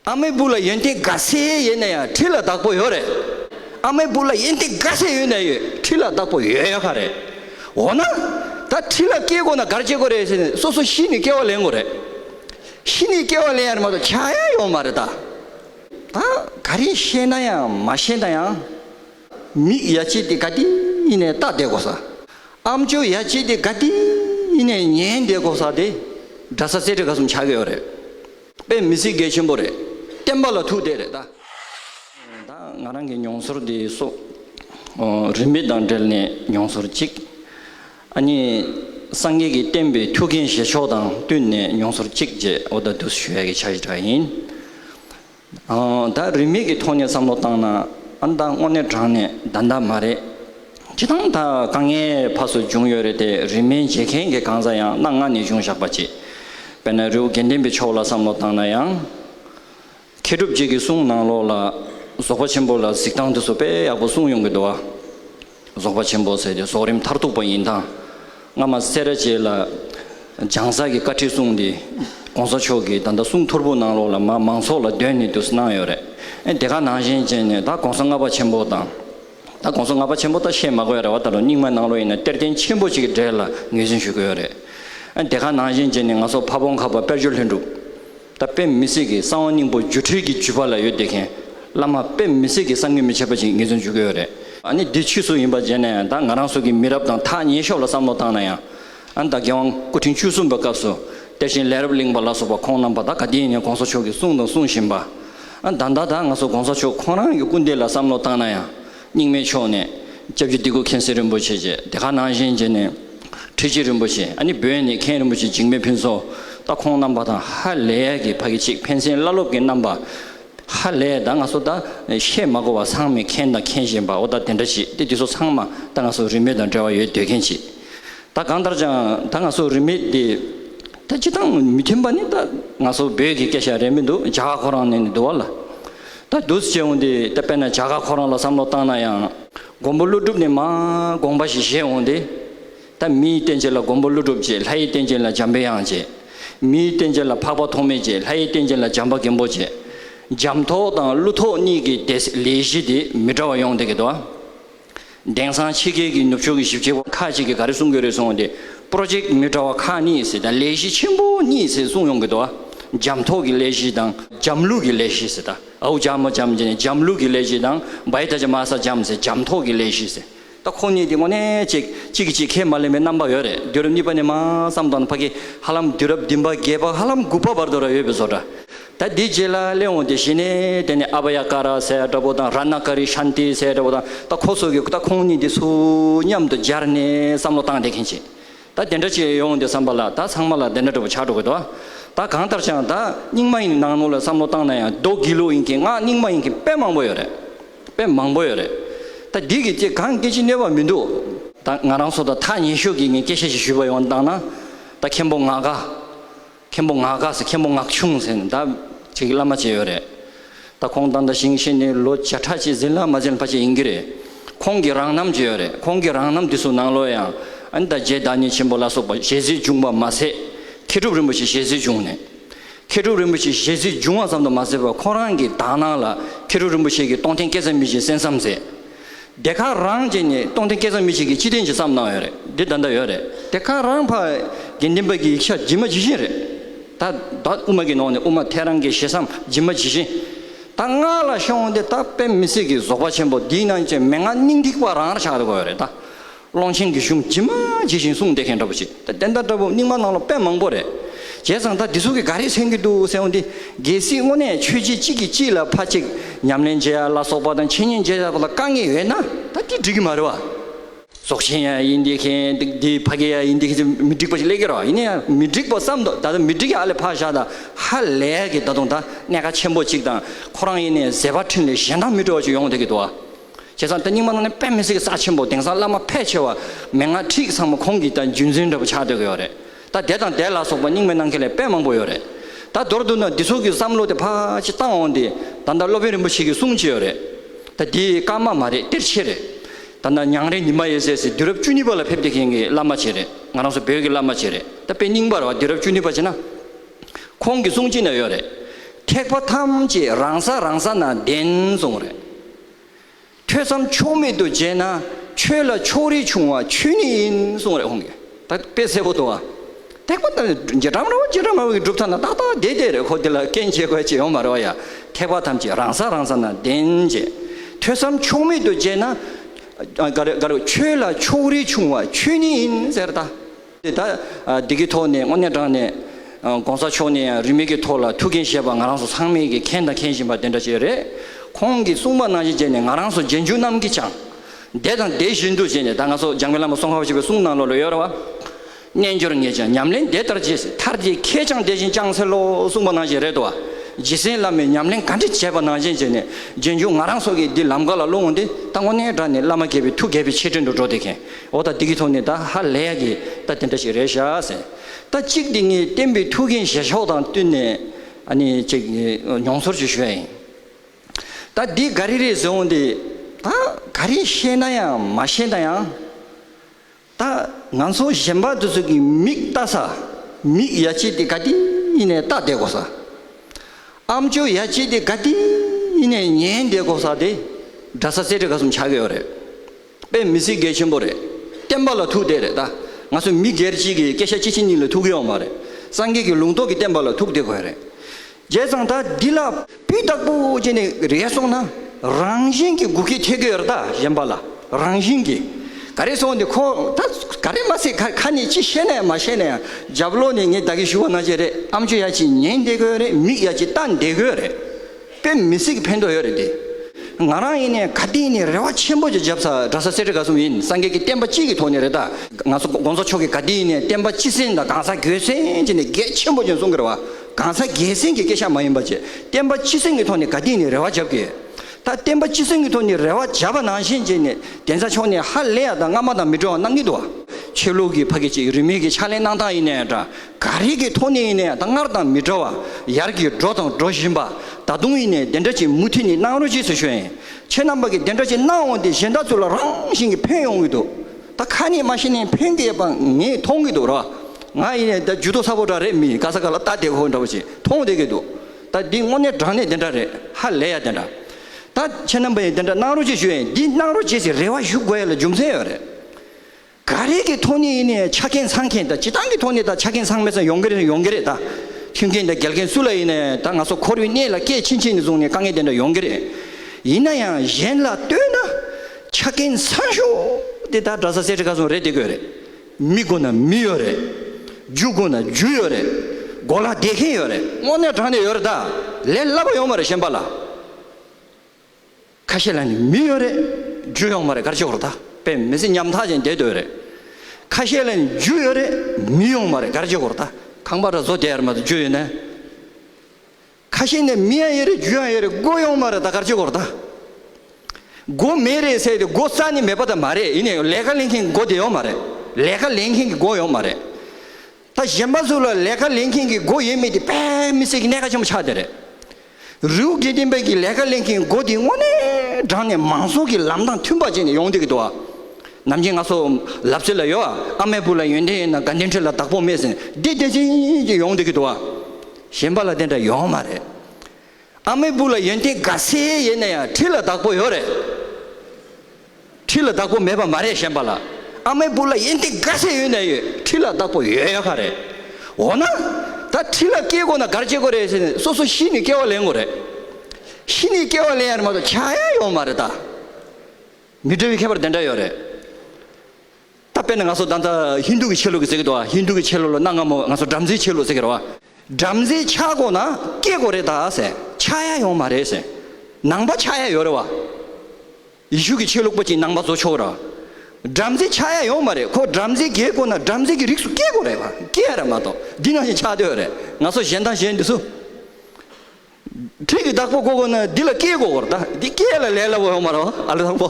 ཨ་མའི་བུ་ལ་ཡོན་ཏན་འགའ་ཤས་ཡོད་ན་ཡང་ཁྲི་ལ་བདག་པོ་ཡོད་རེད། ཨ་མའི་བུ་ལ་ཡོན་ཏན་འགའ་ཤས་ཡོད་ན་ཡོད་ཁྲི་ལ་བདག་པོ་ཡོད་ཡོད་ཁ་རེད། འོ་ན། ད་ཁྲི་ལ་སྐྱེས་དགོས་ན་གར་སྐྱེས་དགོས་རེད་ཟེར་ནས་སོ་སོ་གཞི་ནས་སྐྱེ་བ་ལེན་དགོས་རེད། གཞི་ནས་སྐྱེ་བ་ལེན་ཡ་རེད་མ་གཏོགས་བྱ་ཡ་ཡོད་མ་རེད་ད། ད་ག་རེ་ཤེས་ན་ཡང་མ་ཤེས་ན་ཡང། མིག་ཡ་བྱས་ཏེ་ག་དེ་ཡིན་ནས་ལྟ་བསྡད་དགོས་ས། ཨ་མཆོག་ཡ་བྱས་ཏེ་ག་དེ་ཡིན་ནས་ཉན་བསྡད་དགོས་ས་དེ་འདྲ་ས་ཟེར་ཏེ་ག་གསུམ་ཆགས་ཀྱི་ཡོད་རེད། པས་མི་སྲིད་འགལ་ཆེན་པོ་རེད། བསྟན་པ་ལ་ཐུག་བསྡད་རེད་ད། བདག་ང་རང་གི་མྱོང་ཚོར་འདི་སོགས་རིས་མེད་དང་འབྲེལ་ནས་མྱོང་ཚོར་གཅིག། ཨ་ནི། སངས་རྒྱས་ཀྱི་བསྟན་པའི་ཐུགས་འགན་བཞེས་ཕྱོགས་དང་བསྟུན་ནས་མྱོང་ཚོར་གཅིག་རྗེས་འོ་ད་དུ་ཞུ་ཡ་གི་ཆ་ཞིག་འདྲ་ཡིན། བདག་རིས་མེད་ཀྱི་ཐོག་ནས་བསམ་བློ་བཏང་ན་ཨ་མདའ་དངོས་གནས་དྲང་ནས་བདའ་མདའ་མ་རེད། ཇི་ལྟར་ད་ག་ངའི་ཕ་སུ་བྱུང་ཡོད་རེད་དེ་རིན་མེད་མཇལ་མཁན་གྱི་གང་ཟག་ཡང་གནའ་སྔ་ནས་བྱུང་བཞག་པ་བཅས་དཔེར་ན་རི་བོ་དགེ་ལྡན་པའི་ཕྱོགས་ལ་བསམ་བློ་བཏང་ན་ཡང། མཁས་གྲུབ་རྗེས་ཀྱི་གསུང་ནང་ལོགས་ལ་ཟོག་པ་ཆེན་པོ་ལ་གཟིགས་སྟངས་དེ་ཚོ་དཔེ་ཡག་པོ་གསུང་ཡོང་གི་འདུག་ཨ། ཟོག་པ་ཆེན་པོ་ཟེར་དེ་ཟོག་རིམ་མཐར་ཐུག་པ་ཡིན་ཐང་ང་མ་སེ་ར་རྗེས་ལ་འཇང་ཟག་གི་བཀའ་ཁྲི་གསུང་དེ་གོང་ས་མཆོག་གིས་ད་ལྟ་གསུང་ཐོར་བུ་ནང་ལོགས་ལ་མ་མང་ཚོགས་ལ་འདོན་ནས་དུས་སུ་གནང་ཡོད་རེད་དེ་ག་ནང་བཞིན་བྱས་ནས་ད་གོང་ས་ལྔ་པ་ཆེན་པོ་དང། ད་གོང་སོང་ང་པ་ཆེན་པོ་ད་བཤད་མ་དགོས་རེད་བ་ད་ལོ་སྙིང་མ་ནང་ལོ་ཡིན་ན་གཏེར་རྒྱན་ཆེན་པོ་ཅིག་སྒྲེལ་ལ་ངེས་ཟིན་ཞུ་དགོས་ཡོད་རེད་ཨ། དེ་ཁ་ནང་བཞིན་བྱས་ནས་ང་སོགས་ཕ་བོང་ཁ་བ་དཔལ་འབྱོར་ལྷུན་གྲུབ། ད་དཔེ་མི་སྲིད་ཀྱི་གསང་བ་སྙིང་པོ་སྒྱུ་འཕྲུལ་གྱི་བརྒྱུད་པ་ལ་ཡོད་བསྡད་མཁན་བླ་མ་དཔེ་མི་སྲིད་ཀྱི་གསང་གི་མི་བྱེད་པ་ཅིག་ངེས་ཟིན་ཞུ་གི་ཡོད་རེད་ཨ། ནི་འདི་ཆུས་སུ་ཡིན་པ་བརྗེད་ནས་ད་ང་རང་སོགས་ཀྱི་མི་རབས་དང་ཐག་ཉེ་ཤོག་ལ་བསམ་བློ་བཏང་ན་ཡང་ཨ་མདའ་རྒྱལ་དབང་སྐུ་ཕྲེང་བཅུ་གསུམ་པའི་སྐབས་སུ་དེ་བཞིན་ལས་རབ་གླིང་པ་ལ་སོགས་པ་ཁོང་རྣམས་པ་ད་ག་དེ་ཡིན་ནས་གོང་ས་མཆོག་གིས་གསུངས་དང་གསུང་བཞིན་པ་ཨ་མདའ་མདའ་དག་ང་ཚོ་གོང་ས་མཆོག་ཁོང་རང་གི་སྐུ་འདི་ལ་བསམ་བློ་བཏང་ན་ཡང་རྙིང་མའི་ཕྱོགས་ནས་སྐྱབས་རྗེ་ཏི་ཀོ་མཁན་སེ་རིན་པོ་ཆེ་བཅས་དེ་ག་ནང་བཞིན་བྱས་ནས་ཁྲི་ཆེན་རིན་པོ་ཆེ་ཨ་ནི་བོད་ནས་མཁན་རིན་པོ་ཆེ་འཇིགས་མེད་ཕུན་ཚོགས་ད་ཁོང་རྣམས་པ་དང་ཧ་ལས་ཀྱི་ཕ་གི་ཆིག་ཕན་ཚན་བླ་སློབ་ཀྱི་རྣམས་པ་ཧ་ལས་ད་ང་ཚོ་ད་ཤེས་མ་གོ་བ་ཚང་མས་མཁན་དང་མཁན་ཞེན་པའོ་ད་དེ་འདྲ་ཞིག་སྟེ་འདི་ཚོ་ཚང་མ་ད་ང་ཚོ་རིས་མེད་དང་འབྲེལ་བ་ཡོད་འདོད་མཁན་ཅིག་ད་གང་ལྟར་ཀྱང་ད་ང་སོགས་རིན་མེད་དེ། ད་ཅི་དང་མི་མཐུན་པ་ནི་ད་ང་སོགས་བོད་ཀྱི་སྐད་ཆ་རེད་མི་འདུག་བྱ་ག་ཁོ་རང་ནས་ནི་བསྡུ་བ་ལ། ད་བསྡུ་ཟེ་བྱས་འོང་དེ་ད་དཔེར་ན་བྱ་ག་ཁོ་རང་ལ་བསམ་བློ་བཏང་ན་ཡང། མགོན་པོ་ཀླུ་སྒྲུབ་ནས་མ་དགོངས་པ་ཞིག་བཞེས་འོང་དེ། ད་མི་ཡི་བསྟན་བྱེད་ལ་མགོན་པོ་ཀླུ་སྒྲུབ་ཅེས་ལྷ་ཡི་བསྟན་བྱེད་ལ་འཇམ་དཔལ་དབྱངས་ཅེས། མི་ཡི་བསྟན་བྱེད་ལ་འཕགས་པ་ཐོགས་མེད་ཅེས་ལྷ་ཡི་བསྟན་བྱེད་ལ་འཇམ་པ་རྒན་པོ་ཅེས། འཇམ་ཐོགས་དང་ཀླུ་ཐོགས་གཉིས་ཀྱི་དེ་ལས་གཞི་དེ་མི་འདྲ་བ་ཡོང་དེ་གི་འདུག་ཨ། དེང་སང་ཕྱི་རྒྱལ་གྱི་ནུབ་ཕྱོགས་ཀྱི་ཞིབ་ཕྱི་བ་ཁག་ཅིག་གིས་ག་རེ་གསུང་གི་རེད་གསུང་བ་དེ Project མི་དྲ་བ་ཁག་གཉིས་ཟེར་དང་ལས་གཞི་ཆེན་པོ་གཉིས་ཟེར་གསུང་ཡོང་གི་འདུག་འཇམ་ཐོག་གི་ལས་གཞི་དང་འཇམ་ལུགས་ཀྱི་ལས་གཞི་ཟེར་ད་ཨའུ་འཇམ་མོ་འཇམ་ཅེས་ནས་འཇམ་ལུགས་ཀྱི་ལས་གཞི་དང་བའི་ད་ཇ་མ་ས་འཇམ་ཟེར་འཇམ་ཐོག་གི་ལས་གཞི་ཟེར་ད་ཁོ་གཉིས་དེ་དངོས་གནས་གཅིག་གཅིག་གི་གཅིག་ཁས་མ་ལེན་པའི་རྣམ་པ་ཡོད་རེད་དུས་རབས་གཉིས་པ་ནས་མ་བསམ་དང་ཕ་གི་ཧ་ལམ་དུས་རབས་བདུན་པ་བརྒྱད་པ་ཧ་ལམ་དགུ་པ་བར་དུ་ར་ཡོད་པའི་བཟོ་གྲྭ། ད་འདི་རྗེས་ལ་གླེང་འོང་དེ་བཞི་ནི་དེ་ནི་ཨ་བ་ཡ་ཀ་ར་སེ་ཨ་འདྲ་པོ་དང་ར་ན་ཀ་རི་ཤཱན་ཏི་སེ་འདྲ་པོ་དང་ད་ཁོ་སོགས་ཀྱིས་ད་ཁོང་གཉིས་འདི་ཚོ་མཉམ་དུ་སྦྱར་ནས་བསམ་བློ་བཏང་བསྡད་མཁན་ཆེ། ད་དེ་འདྲ་ཅིག་ཡོང་འདི་བསམ་པ་ལ་ད་ཚང་མ་ལ་དེ་འདྲ་འདྲ་པོ་ཆགས་འགྲོ་གི་འདུག་ད་གང་ལྟར་ཆགས་ད་རྙིང་མ་ཡིན་ནང་ནོར་ལ་བསམ་བློ་བཏང་ན་ཡང་རྡོ་སྒིག་ལོག་ཡིན་མཁན་ང་རྙིང་མ་ཡིན་མཁན་དཔེ་མང་པོ་ཡོད་རེད། དཔེ་མང་པོ་ཡོད་རེད། ད་འདི་གི་སྐྱེ་གང་སྐད་ཅིག་གནོད་པ་མི་འདུག། ད་ང་རང་ཚོ་ད་ཐག་ཉེ་ཤོས་ཀྱིས་ངས་སྐད་ཆ་ཞིག་ཞུས་པ་ཡོང་བཏང་ན་ད་མཁན་པོ་ང་དགའ། མཁན་པོ་ངག་དགའ་ཟེར་མཁན་པོ་ངག་ཆུང་ཟེར་ནས་ད་ཁྱེད་ཀྱི་བླ་མ་བྱས་ཡོད་རེད། ད་ཁོང་དང་ད་ཞིང་ཆེན་ནི་ལོ་བརྒྱ་ཕྲག་གཅིག་ཟིན་ལ་མ་ཟིན་ཕ་གཅིག་ཡིན་གྱི་རེད། ཁོང་གིས་རང་རྣམ་བྱས་ཡོད་རེད་ཁོང་གིས་རང་རྣམ་དེ་ཚོ་ནང་ལོ་ཡང་ཨ་ནི་ད་རྗེ་བདག་ཉིད་ཆེན་པོ་ལ་སོགས་པ་ཞལ་གཟིགས་བྱུང་བར་མ་ཟད་མཁས་གྲུབ་རིན་པོ་ཆེ་ཞལ་གཟིགས་བྱུང་ནས། མཁས་གྲུབ་རིན་པོ་ཆེ་ཞལ་གཟིགས་བྱུང་བ་ཙམ་དུ་མ་ཟད་པར་ཁོང་རང་གིས་དག་སྣང་ལ་མཁས་གྲུབ་རིན་པོ་ཆེ་གིས་སྟོང་ཐེངས་བསྐལ་བཟང་མི་བཞེད་གསན་བསམ་མཛད། སྡེ་ཁག་རང་གིས་ནི་སྟོང་ཐིང་སྐད་གསང་མི་གཅིག་གིས་སྤྱི་ཐིང་ཅིག་བརྩམས་གནང་ཡོད་རེད་འདི་ད་ལྟ་ཡོད་རེད། སྡེ་ཁག་རང་བར་དགེ་འདུན་པ་གི་ཡིག་ཆ་ཇི་མ་ཇི་བཞིན་རེད། ད་ད་དབུ་མ་གི་ནང་ནས་དབུ་མ་ཐལ་རང་གི་ཞེ་བསམ་ཇི་མ་ཇི་བཞིན། ད་སྔགས་ལ་ཤོང་དེ་ད་དཔེ་མི་སྲིད་གི་ཟོག་པ་ཆེན་པོ་འདིའི་ནང་གི་མི་ང་སྙིང་ཐིག་པ་རང་ར་ཆགས་ཡོད་རེད་ད། ཀློང་ཆེན་གྱི་གཞུང་ཇི་མ་ཇི་བཞིན་གསུངས་བསྡད་མཁན་འདྲ་པོ་ཞིག་ད་དེ་འདྲ་འདྲ་པོ་རྙིང་མ་ནང་ལ་དཔེ་མང་པོ་རེད། བྱས་ཙང་ད་འདི་ཚོ་གི་ག་རེ་ཟེར་གྱི་འདུག་གསལ་བོ་འདི་རྒྱལ་སྲིད་དངོས་གནས་ཆོས་རྗེ་གཅིག་གིས་གཅིག་ལ་ཕ་གཅིག་ཉམས་ལེན་བྱེད་ཡ་ལ་སོགས་པ་དང་འཆད་ཉན་བྱེད་ཡ་པ་ལ་དཀའ་ངེས་ཡོད་ན་ད་འདི་འགྲིག་གི་མ་རེད་བ། རྫོགས་ཆེན་ཡ་ཡིན་འདི་ཁེ་འདུག་འདི་ཕ་གི་ཡ་ཡིན་འདི་ཁེ་ཚོ་མི་འགྲིག་པ་ཞིག་སླེབས་ཀྱི་རོགས་ཡིན་ན་ཡང་མི་འགྲིག་པ་བསམ་འདུག་ད་ལྟ་མི་འགྲིག་གི་ཨ་ལས་ཕ་བཞག་ད་ཧ་ལས་ཀྱི་ད་དུང་ད་གནད་ཀ་ཆེན་པོ་གཅིག་དང་ཁོ་རང་ཡེ་ནས་ཟད་པ་འཕྲིན་ལས་གཞན་དག་མི་སྤྲོ་བ་ཞིག་ཡོང་དགོས་ཀྱི་འདུག་བ། བྱས་ཙང་ད་སྙིགས་མ་ལོ་ནས་དཔེ་མི་སྲིད་ས་ཆེན་པོ་དེང་སང་བླ་མ་ཕལ་ཆེ་བ་མེད་ང་ཁྲིད་ཚང་མ་ཁོང་གི་ད་རྒྱུན་འཛིན་འདྲ་པོ་ཆགས་སྡོད་ཀྱི་ཡོད་རེད་ད་དེ་དང་དེ་ལ་སོགས་པ་སྙིགས་མའི་ནང་མཁན་ལས་དཔེ་མང་པོ་ཡོད་རེད་ད་མདོར་བསྡུ་ན་འདི་ཚོ་གི་བསམ་བློ་དེ་ཕག་ཅིག་བཏང་འོང་དེ་ད་ད་སློབ་དཔོན་རིན་པོ་ཆེ་གི་གསུང་ཅི་ཡོད་རེད་ད་འདི་སྐར་མ་མ་རེད་གཏེར་ཆེན་རེད་ད་ན་ཉང་རེ་ཉི་མ་ཡེ་ཟས་སི་དུས་རབས་བཅུ་གཉིས་པ་ལ་ཕེབས་དེ་མཁན་གི་བླ་མ་ཆེ་རེད་ང་རང་སོ་བོད་ཀྱི་བླ་མ་ཆེ་རེད་ད་དཔེ་རྙིང་པར་བ་དུས་རབས་བཅུ་གཉིས་པ་བྱས་ན། ཁོང་གི་གསུང་ཅི་ནས་ཡོད་རེད། ཐེག་པ་ཐམས་ཅད་རང་ས་རང་ས་ན་བདེན་གསུང་རེད། ཐོས་བསམ་ཕྱོགས་མེད་དུ་བྱས་ན་ཆོས་ལ་ཕྱོགས་རིས་ཆུང་བ་ཆོས་ཉིད་ཡིན་གསུང་རེད་ཁོང་གི་ད་དཔེ་གསལ་པོ་འདུག་ཨ། ཐེག་པ་ཐམས་ཅད་རྗེ་འབྲང་ར་བ་རྗེ་འབྲང་ར་བ་གི་གྲུབ་མཐའ་ན་ཏག་ཏག་བསྡད་བསྡད་རེད་ཁོ་དེ་ལ་རྐྱེན་བྱེད་དགོས་ཅི་ཡོང་མ་རེད་བ་ཡ། ཐེག་པ་ཐམས་ཅད་རང་ས་རང་ས་ན་བདེན་བྱས། ཐོས་བསམ་ཕྱོགས་མེད་དུ་བྱས་ན། ག་རེ་ག་རེ་ཆོས་ལ་ཕྱོགས་རིས་ཆུང་བ་ཆོས་ཉིད་ཡིན་ཟེར་ད། ད་སྡིག་གི་ཐོག་ནས་དངོས་གནས་དྲངས་ནས། གོང་ས་མཆོག་ནས་ཡང་རིས་མེད་ཀྱི་ཐོག་ལ་ཐུགས་འགན་བཞེས་པ་ང་རང་སོ་ཚང་མེད་ཀྱི་མཁྱེན་དང་མཁྱེན་བཞིན་པ་དེ་འདྲ་ཞིག་རེད། ཁོང་གིས་གསུངས་པ་ནང་བཞིན་བྱས་ནས་ང་རང་སོ་རྗེས་འཇུག་རྣམས་ཀྱིས་ཀྱང། འདས་དང་འདས་བཞིན་དུ་བྱས་ནས་ད་ང་སོ་འཇམ་དཔལ་ལྷ་མོ་སོ་ཧོ་ཞེས་པའི་གསུང་གནང་ལོ་ལོ་ཡོད་རེད་བ། རྣལ་འབྱོར་ངེས་ཀྱང་ཉམས་ལེན་དེ་ལྟར་བྱས་ཟིན་མཐར་དེ་ཁས་ཀྱང་དེ་བཞིན་བསྐྱང་འཚལ་ལོ་གསུངས་པ་ནང་བཞིན་རེད་དོ། རྗེ་སེང་བླ་མས་ཉམས་ལེན་ག་འདྲི་བྱས་པ་ནང་བཞིན་བྱས་ནས་རྗེས་འཇུག་ང་རང་སོ་གིས་འདི་ལམ་ག་ལ་སློང་ངོ་འདི་ད་དངོས་གནས་དྲངས་ནས་བླ་མ་དགེ་བའི་ཐུགས་དགེ་བའི་ཆེ་ཕྲིན་དུ་འགྲོ་བདེ་མཁན། འོ་ད་འདི་གི་ཐོག་ནས་ད་ཧ་ལས་ཡག་གི་ད་དེ་འདྲ་ཞིག་རེད་ཤག་ཟེར། ད་གཅིག་འདི་ངས་བསྟན་པའི་ཐུགས་འགན་བཞེས་ཕྱོགས་དང་བསྟུན་ནས་ཨ་ནི་ཅིག་མྱོང་ཚོར་ཅིག་ཞུ་ཡ་ཡིན། ད་འདི་ག་རེ་རེད་ཟེར་འོང་དེ་ད་ག་རེ་ཤེས་ན་ཡང་མ་ཤེས་ན་ཡང། ད་ང་ཚོ་གཞན་པ་དེ་ཚོ་གི་མིག་ལྟ་ས་མིག་ཡ་ཆེ་དེ་ག་དེ་ཡིན་ནས་ལྟ་བསྡད་དགོ་ས། ཨམ་ཅོ་ཡ་ཆེ་དེ་ག་དེ་ཡིན་ནས་ཉན་བསྡད་དགོ་ས་དེ་འདྲ་ས་ཟེར་དྲི་ག་གསུམ་ཆགས་ཀྱི་ཡོད་རེད། པས་མི་སྲིད་འགལ་ཆེན་པོ་རེད། བསྟན་པ་ལ་ཐུག་བསྡད་རེད་ད། ང་ཚོ་མི་སྒེར་གཅིག་གི་སྐད་ཆ་སྤྱི་ཆིངས་གཉིས་ལ་ཐུག་གི་ཡོད་མ་རེད། སངས་རྒྱས་ཀྱི་ལུང་རྟོགས་ཀྱི་བསྟན་པ་ལ་ཐུག་བསྡད་དགོས་རེད། རྒྱལ་བཟང་ད་འདི་ལ་སྤུས་རྟགས་པོ་ཅན་ནས་རེད་སོང་ན། རང་བཞིན་གྱི་སྒུག་ཁྱི་ཐེ་གི་ཡོད་རེད་ད་གཞན་པ་ལ་རང་བཞིན་གྱི། ག་རེ་སོང་དེ་ཁོང་ད་ག་རེ་མ་སྲིད་ཁ་ཁ་ནས་ཅི་བཤད་ན་ཡང་མ་བཤད་ན་ཡང་རྒྱབ་ལོག་ནས་ངས་ད་གི་ཞུ་བ་ན་བྱས་རེད་ཨམ་ཆུ་ཡ་གཅིག་ཉན་བསྡད་དགོས་རེད་མིག་ཡ་གཅིག་ལྟ་བསྡད་དགོས་རེད། དཔེ་མི་སྲིད་ཀྱི་ཕན་ཐོགས་ཡོད་རེད་དེ། ང་རང་ཡིན་ནས་ག་དེ་ཡིན་ནས་རེ་བ་ཆེན་པོ་ཅིག་འཇབ་ས་འདྲ་ས་སེ་རེ་ག་གསུམ་ཡིན་སངས་རྒྱས་ཀྱི་བསྟན་པ་སྤྱི་ཡི་ཐོག་ནས་རེ་ད་ང་ཚོ་དགོང་ཚོགས་མཆོག་གིས་ག་དེ་ཡིན་ནས་བསྟན་པ་སྤྱི་སེང་དང་གང་ཟག་གྱོད་སེང་ཅིག་ནས་གེགས་ཆེན་པོ་ཅིག་གསུང་གི་རེད་བ་གང་ཟག་གྱད་སེང་གི་སྐད་ཤ་མ་ཡིན་པ་ཅིག་བསྟན་པ་སྤྱི་སེང་གི་ཐོག་ནས་ག་དེ་ཡིན་ནས་རེ་བ་འཇབ་གི་ད་བསྟན་པ་སྤྱི་སེང་གི་ཐོག་ནས་རེ་བ་འཇབ་པ་ནང་བཞིན་ཅིག་ནས་གདན་ས་མཆོག་ནས་ཧ་ལས་ཡ་དང་རྔ་མ་དང་མི་དྲོ་བ་གནང་གི་འདུག་བ་ཆོས་ལུགས་ཀྱི་ཕ་གི་ཅིག་རིས་མེད་ཀྱི་ཕྱག་ལེན་གནང་སྟངས་ཡིན་ནས་འདྲ། ག་རེ་གི་ཐོག་ནས་ཡིན་ནའི་ད་སྔར་དང་མི་འདྲ་བ་ཡར་གྱི་འགྲོ་དང་འགྲོ་བཞིན་པ་ད་དུང་ཡིན་ནའི་དེ་འདྲ་ཅིག་མུ་མཐུད་ནས་གནང་རོགས་བྱེད་ཟེར་ཞོར་ཡན་ཆད་རྣམ་པ་གི་དེ་འདྲ་ཅིག་གནང་འོང་དེ་གཞན་དག་ཚོ་ལ་རང་བཞིན་གྱི་ཕན་ཡོང་གི་འདུག་ད་ཁ་ནས་མ་བཤད་ནའི་ཕན་གི་པ་ངས་མཐོང་གི་འདུག་ར་བ་ང་ཡིན་ནའི་ད་ཇུས་ཏོག་ཚ་པོ་འདྲ་རེད་མི་ག་ས་ག་ལ་ལྟ་དེ་ཁོ་འདྲ་བ་ཅིག་མཐོང་བསྡད་ཀྱི་འདུག་ད་འདི་དངོས་གནས་དྲང་གནས་དེ་འདྲ་རེད་ཧ་ལས་ཡ་དེ་འདྲ་ད་ཁྱེད་རྣམ་པ་ཡིན་དེ་འདྲ་གནང་རོགས་བྱེད་ཞོར་ཡན་འདི་གནང་རོགས་བྱེད་ཟེར་རེ་བ་ཞུ་དགོས་ཡ་ལ་རྒྱུ་མཚན་ཡོད་རེད། ག་རེ་གི་ཐོག་ནས་ཡིན་ནའི་ཆ་རྐྱེན་ཚང་མཁན་དང་ཇི་ལྟང་གི་ཐོག་ནས་དང་ཆ་རྐྱེན་ཚང་མེད་ས་ཡོང་གི་རེད་ཡོང་གི་རེད་ད། མཐུན་རྐྱེན་དང་འགལ་རྐྱེན་སུ་ལ་ཡིན་ནའི་ད་ང་ཚོ་ཁོར་ཡུག་གནས་ལ་སྐད་ཕྱིན་ཕྱིན་ནས་བཟུང་ནས་དཀའ་ངལ་དེ་འདྲ་ཡོང་གི་རེད། ཡིན་ན་ཡང་གཞན་ལ་ལྟོས་ན་ཆ་རྐྱེན་ཚང་ཤོས་དེ་ད་གྲྭ་ས་གསེར་ཁྲི་ཁ་སོང་རེད་དེ་དགོས་རེད། མི་དགོས་ན་མི་ཡོད་རེད། རྒྱུ་དགོས་ན་རྒྱུ་ཡོད་རེད། མགོ་ལ་བསྡད་མཁན་ཡོད་རེད་སྔོ་ནག་དྲང་ནས་ཡོད་རེད་ད། ལས་སླ་པོ་ཡོང་མ་རེད་གཞན་པ་ལ། ཁ་ཤས་ལ་ནི་མི་ཡོད་རེད། རྒྱུ་ཡོང་མ་རེད་གར་ཆོད་གོ་ར་ཐག་པས་མི་ཚེ་ཉམ་ཐག་ཅན་བསྡད་སྡོད་རེད། ཁ་ཤས་ལ་ནི་རྒྱུ་ཡོད་རེད་མི་ཡོང་མ་རེད་གར་ཆོད་གོ་ར་ཐག་ཁང་པ་འདྲ་བཟོ་བསྡད་ཡར་མ་དུ་རྒྱུ་ཡོད་ནའི། ཁ་ཤས་ནི་མི་ཡང་ཡོད་རེད་རྒྱུ་ཡང་ཡོད་རེད་སྒོ་ཡོང་མ་རེད་ད་གར་ཆོད་གོ་ར་ཐག། སྒོ་མེད་རེད་ཟེར་དེ་སྒོ་རྩ་ནི་མེད་པ་ད་མ་རེད་ཡིན་ནའི་ལས་ཀ་ལེན་མཁན་གྱི་སྒོ་བསྡད་ཡོང་མ་རེད་ལས་ཀ་ལེན་མཁན་གྱི་སྒོ་ཡོང་མ་རེད། ད་གཞན་པ་ཚོ་ལ་ལས་ཀ་ལེན་མཁན་གྱི་སྒོ་ཡོད་མེད་དེ་ཕལ་མི་སྲིད་ཀྱི་གནད་ཀ་ཆེན་པོ་ཆགས་བསྡད་རེད། རེའུ་དགེ་ལྡན་པའི་གྱི་ལས་ཀ་ལེན་མཁན་སྒོ་དེ་དངོས་གནས་དྲང་ནས་མང་ཚོགས་ཀྱི་ལམ་དང་མཐུན་པ་བྱས་ནས་ཡོང་བསྡད་ཀྱི་འདུག་ཨ། ནམ་རྒྱུན་ང་ཚོ་ལབ་ཙེ་ལ་ཡོད་ཨ་མའི་བུ་ལ་ཡོན་ཏན་ཡོད་ན་དགའ་ལྡན་ཁྲི་ལ་བདག་པོ་མེད་ཟེར་བདེ་བདེ་ཆེན་ཆེན་གྱི་ཡོང་བསྡད་ཀྱི་འདུག་ཨ། གཞན་པ་ལ་དེ་འདྲ་ཡོད་མ་རེད། ཨ་མའི་བུ་ལ་ཡོན་ཏན་དགའ་སེ་ཡོད་ན་ཡང་ཁྲི་ལ་བདག་པོ་ཡོད་རེད། ཁྲི་ལ་བདག་པོ་མེད་པ་མ་རེད་ཞེན་པ་ལ་ཨ་མའི་བུ་ལ་ཡིན་ཏེ་དགའ་ཤས་ཡོད་ནས་ཡོད་ཁྲི་ལ་བདག་པོ་ཡོད་ཡོད་ཁ་རེད་འོ་ན་ད་ཁྲི་ལ་སྐྱེས་དགོས་ན་དགར་བྱེད་དགོས་རེད་ཟེར་ནས་སོ་སོ་གཞི་ནས་སྐྱེ་བ་ལེན་དགོས་རེད་གཞི་ནས་སྐྱེ་བ་ལེན་ཡ་རེད་མ་གཏོགས་བྱ་ཡ་ཡོད་མ་རེད་ད་མི་འབྲེལ་བའི་ཁྱད་པར་དེ་འདྲ་ཡོད་རེད། ད་དཔེར་ན་ང་ཚོ་ད་ལྟ་ཧིན་དྷུ་གི་ཆོས་ལུགས་ཀྱི་ཟེར་གི་འདུག་བ་ཧིན་དྷུ་གི་ཆོས་ལུགས་ལ་གནའ་སྔ་མོ་ང་ཚོ་བྲམ་ཟེའི་ཆོས་ལུགས་ཟེར་གི་རེད་བ། བྲམ་ཟེ་ཆག་སྒོ་ན་སྐྱེས་སྒོ་རེད་ད་ཟེར་ཆག་ཡ་ཡོང་མ་རེད་ཟེར། ནང་པ་ཆག་ཡ་ཡོད་རེད་བ། ཡེ་ཤུ་གི་ཆོས་ལུགས་པ་གཅིག་ནང་པ་བཟོ་ཆོག་ར། བྲམ་ཟེ་ཆག་ཡ་ཡོང་མ་རེད་ཁོ་བྲམ་ཟེ་རྒྱལ་སྒོ་ན་བྲམ་ཟེ་གི་རིགས་སུ་སྐྱེས་སྒོ་རེད་བ་སྐྱེས་ཡ་རེད་མ་གཏོགས་འདི་ནང་བཞིན་ཆག་འདོད་རེད་ང་ཚོ་གཞན་དང་གཞན་འདི་སུ། ཁྲིད་ཀྱི་བདག་པོ་སྒོ་སྒོ་ན་འདི་ལ་སྐྱེས་སྒོ་ར་ད་འདི་སྐྱེས་ལ་ལས་ལ་བ་ཡོང་མ་ར་བ་ཨ་ལ་དང་པོ།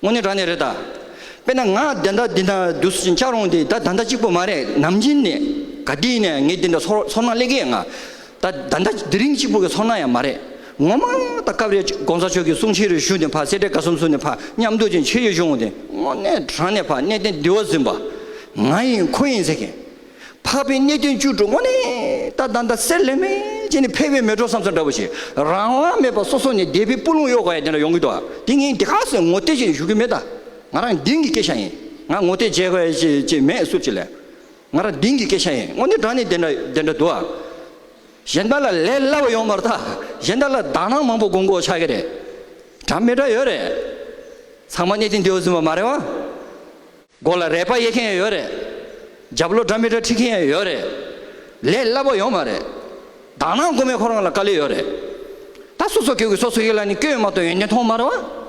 དངོས་གནས་དྲང་གནས་རེད་ད། དཔེར་ན་ང་དེ་འདྲ་འདི་འདྲ་བསྡུ་ཞིང་བཅག་རུང་དེ་ད་ད་འདྲ་གཅིག་པོ་མ་རེད་ནམ་རྒྱུན་ནས་ག་དུས་ནས་ངས་འདི་འདྲ་ཚོར་སྣང་སླེ་གི་ཡ་ང། ད་ད་འདྲ་དེ་རིང་གཅིག་པོ་གི་ཚོར་སྣང་ཡང་མ་རེད། ངོ་མ་ད་སྐབས་རེ ྋགོང་ས་མཆོག་གི་གསུང་ཕྱི་རུ་ཞུ་ནས་ཕར་སེ་འབྲས་དགའ་སོམ་སོ་ནས་ཕར་མཉམ་འདུག་ཅིང་ཕྱི་ཡུལ་ཤོང་དེ་དངོས་གནས་དྲང་གནས་ཕར་གནས་ཏེ་འདི་བ་ཟིན་པ་ང་ཡིན་ཁོ་ཡིན་ཟེར་མཁན་འཕགས་པའི་གནས་བདུན་བཅུ་དྲུག་ངོ་ནས་ད་ད་ད་གསེར་ལེ་མེ་ཅན་ནི་ཕལ་བའི་མེ་གྲོགས་སམ་ས་འདྲ་བོ་ཞིག་རང་དབང་མེད་པར་སོ་སོ་ནས་སྡེ་པའི་སྤུ་ལུང་གཡོག་ག་ཡ་དེ་འདྲ་ཡོང་གི་འདུག་ཨ་དེ་ངས་འདི་ག་ཟེར་ངོ་ཏི་ཅི་ཞིག་ཞུ་གི་མེད་ད་ང་རང་དིང་གི་སྐད་ཆ་ཡིན་ང་ངོ་ཏི་བྱེད་ག་ཡ་ཅི་མེད་ཟུར་ཅིག་ལས་ང་རང་དིང་གི་སྐད་ཆ་ཡིན་ངོ་ནི་དྲ་ནི་དེ་འདྲ་དེ་འདྲ་འདུག་ཨ་གཞན་དག་ལ་ལས་སླ་བ་ཡོང་མ་རེད་ད་གཞན་དག་ལ་དག་སྣང་མང་པོ་དགོངས་དགོས་ཆགས་ཀྱི་རེད་དྲ་མི་འདྲ་ཡོད་རེད་ཚང་མ་གནས་དིང་འདི་འོ་ཟིན་པ་མ་རེད་བ། སྒོ་ལ་རས་པ་གཡས་མཁན་ཡོད་རེད། རྒྱབ་ལོ་སྒྲ་མི་སྒྲ་ཁྲིད་མཁན་ཡོད་རེད། ལས་སླ་པོ་ཡོད་མ་རེད། དག་སྣང་སྒོ་མེད་ཁོ་རང་ལ་དཀའ་ལས་ཡོད་རེད། ད་སོ་སོ་ཁྱོད་ཀྱི་སོ་སོ་ཡིད་ལ་ནི་སྐྱོན་ཡོད་མ་གཏོགས་ཡོན་ཏན་མཐོང་མ་རེད།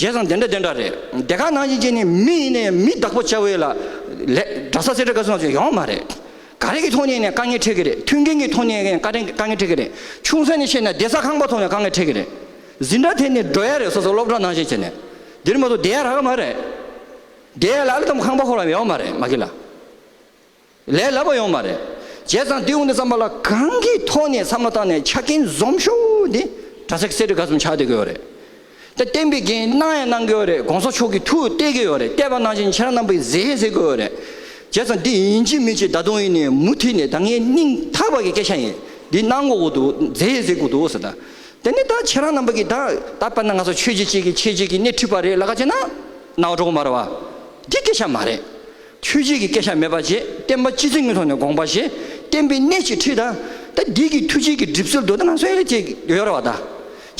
བྱས་ཙང་དེ་འདྲ་དེ་འདྲ་རེད། དེ་ག་ནང་བཞིན་བྱས་ནས་མི་ཡིན་ནའི་མི་བདག་པོ་བྱ་འི་ལ། ལས་འདྲ་ས་ཟེར་འདྲ་ག་སོང་ཟེར་ཡོང་མ་རེད། ག་རེ་གི་ཐོག་ནས་ནས་དཀའ་ངལ་འཕྲད་གི་རེད་མཐུན་རྐྱེན་གྱི་ཐོག་ནས་ནས་དཀའ་ངལ་འཕྲད་གི་རེད་ཆུང་ས་ནས་བཤད་ན་བདེ་ས་ཁང་པ་ཐོག་ནས་དཀའ་ངལ་འཕྲད་གི་རེད། ཟིན་འདྲ་དེ་ནི་སྒྲོ་ཡ་རེད་སོ་སོ་སློབ་གྲྭ་ནང་བཞིན་བྱས་ནས་འདིར་མ་གཏོགས་བསྡད་ཡ་རག་གི་མ་རེད། བསྡད་ཡ་ལ་ཨ་ལི་ཐམ་ཁང་པ་ཁོ་རང་ཡོང་གི་མ་རེད་མ་གི་ལ་ལས་ལབ་པ་ཡོང་གི་མ་རེད། བྱས་ཙང་དེ་དབུ་འདི་བརྩམས་པ་ལ་གང་གི་ཐོག་ནས་བསམ་བློ་བཏང་ནས་ཆ་རྐྱེན་འཛོམས་ཤོག་འདི་གྲྭ་ཚག་གསེར་ཁྲི་ག་ཚོམ་ཆགས་བསྡད་ཀྱི་ཡོད་རེད། དེ་བསྟན་པའི་འགན་གནང་ཡང་གནང་གི་ཡོད་རེད་གོང་ས་མཆོག་གིས་ཐུགས་གཏད་ཀྱི་ཡོད་རེད་གཏད་པ་ནང་བཞིན་ཁྱེད་རང་རྣམ་པས་མཛད་ཟེར་གྱི་ཡོད་རེད། བྱས་ཙང་འདི་ཡིན་གཅིག་མིན་གཅིག་ད་དུང་ཡིན་ནའི་མུ་མཐུད་ནས་ད་ངའི་སྙིང་ཐག་པ་གི་སྐད་ཆ་ཡིན་འདི་གནང་དགོས་ཀྱི་འདུག་མཛད་ཟེར་གྱི་འདུག་ཟེར་ན་དེ་ནས་ད་ཁྱེད་རང་རྣམ་པ་གིས་ད་ད་པར་ན་ང་ཚོ་ཆོས་བྱེད་ཅིག་གིས་ཁྱེད་ཅིག་གིས་སྣེ་འཁྲིད་པ་རེད་ལ་ཁ་ཅེ་ན། ནའོ་གྲོགས་མར་བ། འདི་སྐད་ཆ་མ་རེད། ཆོས་བྱེད་ཀྱི་སྐད་ཆ་མེད་པ་རྗེས་བསྟན་པ་སྤྱི་ཚེ་ངན་ཐོག་ནས་དགོངས་པ་ཞེས་བསྟན་པའི་སྣེ་གཅིག་འཁྲིད་ད། ད་འདི་གི་ཐུགས་བྱེད་ཀྱི་གྲིབ་སེལ་དུ་ད་ང་ཚོའི་ཡས་ཀྱི་ཡོད་ར་བ་ད།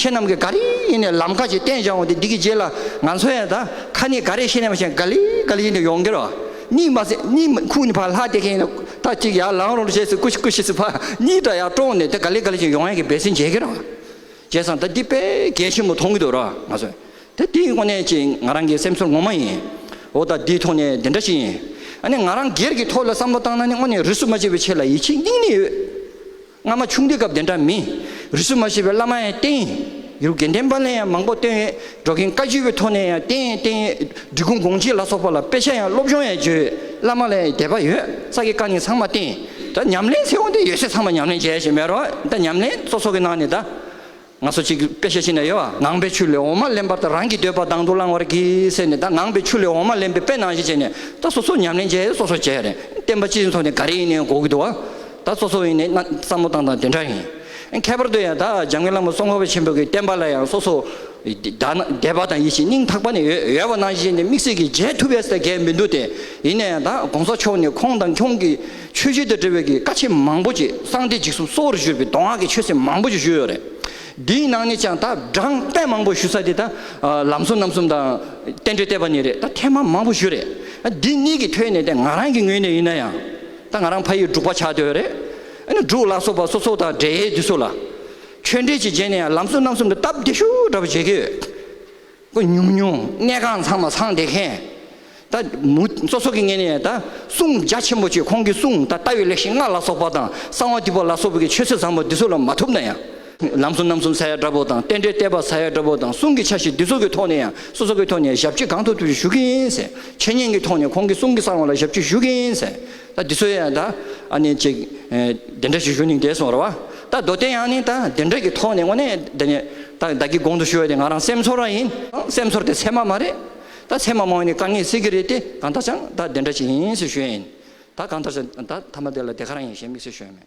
ཁྱེད་རྣམ་གིས་ག་རེ་ཡིན་ནས་ལམ་ཁ་ཅིག་བསྟན་བྱ་འོང་དེ་འདི་གི་རྗེས་ལ་ང་ཚོའི་ཡས་ད་ཁ་ནི་ག་རེ་ཤེས་ནས་མ་ཤེས་ག་ལི་ག་ལི་ཡིན་དེ་ཡོང་གི་ར་བ། གཉིད་མ་སད་གཉིད་ཁུག་ནས་ཕར་ལྷག་དེ་གིན་ད་ཅིག་ཡར་ལངས་རོགས་ཞེས་སུ་སྐུ་ཞིག་སྐུ་ཞིག་སུ་ཕར་གཉིད་དང་ཡར་དཀྲོངས་ནས་དེ་ག་ལེ་ག་ལེ་བྱས་ཡོང་ཡང་གི་འབད་སྲིད་མཇལ་གི་རང་བྱས་སང་ད་འདི་དཔེ་གལ་ཆེན་པོ་མཐོང་གི་འདུག་ར་ང་སོ་དེ་དེའི་དངོས་གནས་ཀྱིས་ང་རང་གི་སེམས་ཚོར་ངོ་མ་ཡིན་འོ་ད་འདི་ཐོག་ནས་འདི་འདྲ་ཞིག་ཡིན་ཨ་ནི་ང་རང་སྒེར་གྱི་ཐོག་ལ་བསམ་བློ་བཏང་ན་ནི་དངོས་གནས་རུས་སུ་མ་བྱས་པའི་ཆེད་ལ་ཡིད་ཆེས་སྙིང་ནས་ཡོད། སྔ་མ་ཆུང་དུས་སྐབས་དེ་འདྲ་མིན། རིས་སུ་མ་ཤེས་པའི་བླ་མ་ཡང་བསྟེན་ཡོད། ཡུལ་དགེ་ལྡན་པ་ལས་ཡང་མང་པོ་བཏོན་ཡོད། འགྲོ་མཁན་བཀའ་བརྒྱུད་པའི་ཐོག་ནས་ཡང་བསྟེན་ཡང་བསྟེན་ཡོད། འབྲི་གུང་དགོངས་གཅིག་ལ་སོགས་པ་ལ་དཔེ་ཆ་ཡང་སློབ་སྦྱོང་ཡང་བྱོས་ཡོད། བླ་མ་ལས་ཡང་དད་པ་ཡོད་ས་ཀྱི་བཀའ་ནི་ཚང་མ་བསྟེན། ད་ཉམས་ལེན་ཚེ་དབང་དེ་ཡོད་ཚད་ཚང་མ་ཉམས་ལེན་བྱས་ཞེས་མེད་རོགས། ད་ཉམས་ལེན་གཙོ་ཚོགས་ཀྱི་ནང་ནས་ད། ང་ཚོ་གཅིག་པེ་ཤ་ཤི་ན་ཡོ་ཨ་ངང་པའི་ཆུ་ལས་འོ་མ་ལེན་པར་ད་རང་གི་འདོད་པ་དང་དུ་བླང་བར་གྱིས་ཟེར་ནས་ད་ངང་པའི་ཆུ་ལས་འོ་མ་ལེན་པའི་པེ་ནང་བཞིན་བྱས་ནས་ད་སོ་སོ་ཉམས་ལེན་བྱས་སོ་སོ་བྱས་བསྟན་པ་སྤྱི་མཚོ་ནས་ག་རེ་ཡིན་ནའི་གོ་གི་འདུག་ཨ་ད་སོ་སོ་ཡིན་ནའི་བསམ་བློ་བཏང་དང་དེ་འདྲ་ཡིན་ཁྱད་པར་དུ་ཡང་ད་འཇམ་མགོན་བླ་མ་སྲོང་མཁའ་བ་ཆེན་པོ་གི་བསྟན་པ་ལ་ཡང་སོ་སོ་དད་པ་དང་ཡིད་བཞིན་སྙིང་ཐག་པ་ནས་ཡོད་པ་ནང་བཞིན་བྱས་ནས་དམིགས་བསལ་གྱིས་མཇལ་ཐུབ་པས་ད་གལ་མི་འདུག་སྟེ་ཡིན་ན་ཡང་ད་གོང་ས་མཆོག་ནས་ཁོང་དང་ཁྱོད་ཀྱི་ཆོས་བརྒྱུད་དང་འབྲེལ་བའི་གི་ཀ་ཆེས་མང་པོ་གྱིས་གསང་སྟེ་འཇིགས་སུ་གསོ་བར་གཞུར་བའི་མདོ་སྔགས་ཀྱི་ཆོས་སྲིད་མང་པོ་ཞིག་ཞུས་ཡོད་རེད། འདིའི་ནང་ནས་ཀྱང་ད་བགྲང་བསྟན་མང་པོ་ཞུ་ས་དེ་ད་ལམ་གསུམ་ནམ་གསུམ་དང། བསྟན་འགྲོའི་བསྟན་པ་ནས་རེད་ད་ཐེངས་མ་མང་པོ་ཞུས་རེད། འདི་གཉིས་ཀྱི་ཐོས་ནས་ད་ང་རང་གི་ངོས་ནས་ཡིན་ན་ཡང། ད་ང་རང་ཕ་ཡིས་འབྲུག་པ་ཆགས་འདོད་རེད། ཨ་ནི་འབྲུག་ལ་སོགས་པ་སོ་སོ་དང་འབྲེལ་ཡས་དུས་སུ་ལ། ཆོས་འབྲེལ་གྱི་རྗེས་ནས་ཡང་ལམ་གསུམ་ནམ་གསུམ་དུ་སྟབས་བདེ་ཤུགས་འདྲ་བ་བྱེད་ཀྱི་ཡོད། ཀུན་ཉུང་ཉུང་གནས་ཁང་ཚང་མ་ཚང་བདེ་མཁན། ད་མུ་མཚོ་སོགས་ཀྱི་ངེས་ནས་ད་གསུང་རྒྱ་ཆེན་པོ་ཆོས་ཁོང་གི་གསུང་ད་ལྟ་བའི་ལེགས་བཤད་ལྔ་ལ་སོགས་པ་དང་གསང་བ་འདུས་པ་ལ་སོགས་པའི་ཆོས་སྲོལ་བཟང་པོ་འདི་ཚོ་ལ་མ་ཐུབ་ན་ཡང། ལམ་གསུམ་རྣམ་གསུམ་ས་ཡ་འདྲ་པོ་དང་རྟེན་འབྲེལ་བརྟས་པ་ས་ཡ་འདྲ་པོ་དང་གསུང་གི་ཆ་ཤས་འདི་ཚོ་གི་ཐོག་ནས་ཡང་སོ་སོ་གི་ཐོག་ནས་ཞབས་ཕྱི་གང་ཐུབ་ཐུབ་ཞུ་གི་ཡིན། འཆད་ཉན་གི་ཐོག་ནས་ཁོང་གི་གསུང་གི་གསང་བ་ལ་ཞབས་ཕྱི་ཞུ་གི་ཡིན། ད་འདི་ཚོ་ཡང་ད་ཨ་ནི་ཅིག་དེ་འདྲ་ཞིག་ཞུ་ནིང་དེ་སོང་ར་བ། ད་མདོ་སྟེ་ཡང་ནི་ད་དེ་འདྲ་གི་ཐོག་ནས་ངོ་ནས་དེ་ནི་ད་བདག་གི་དགོངས་དུ་ཞུ་བ་དེ་ང་རང་སེམས་ཚོར་བ་ཡིན། སེམས་ཚོར་དེ་ཚད་མ་མ་རེད། ད་ཚད་མ་མང་བས་ནི་དཀའ་ངལ་སེལ་གི་རེད་དེ་གང་ལྟར་ཅང་ད་དེ་འདྲ་ཞིག་ཡིན་ཟེར་ཞུ་ཡ་ཡིན། ད་གང་ལྟར་ཅང་ད་ཐ་མ་དེ་ལ་དེ་ག་རང་ཡིན་ཞེས་དམིགས་བསལ་ཞུ་ཡ་མེད།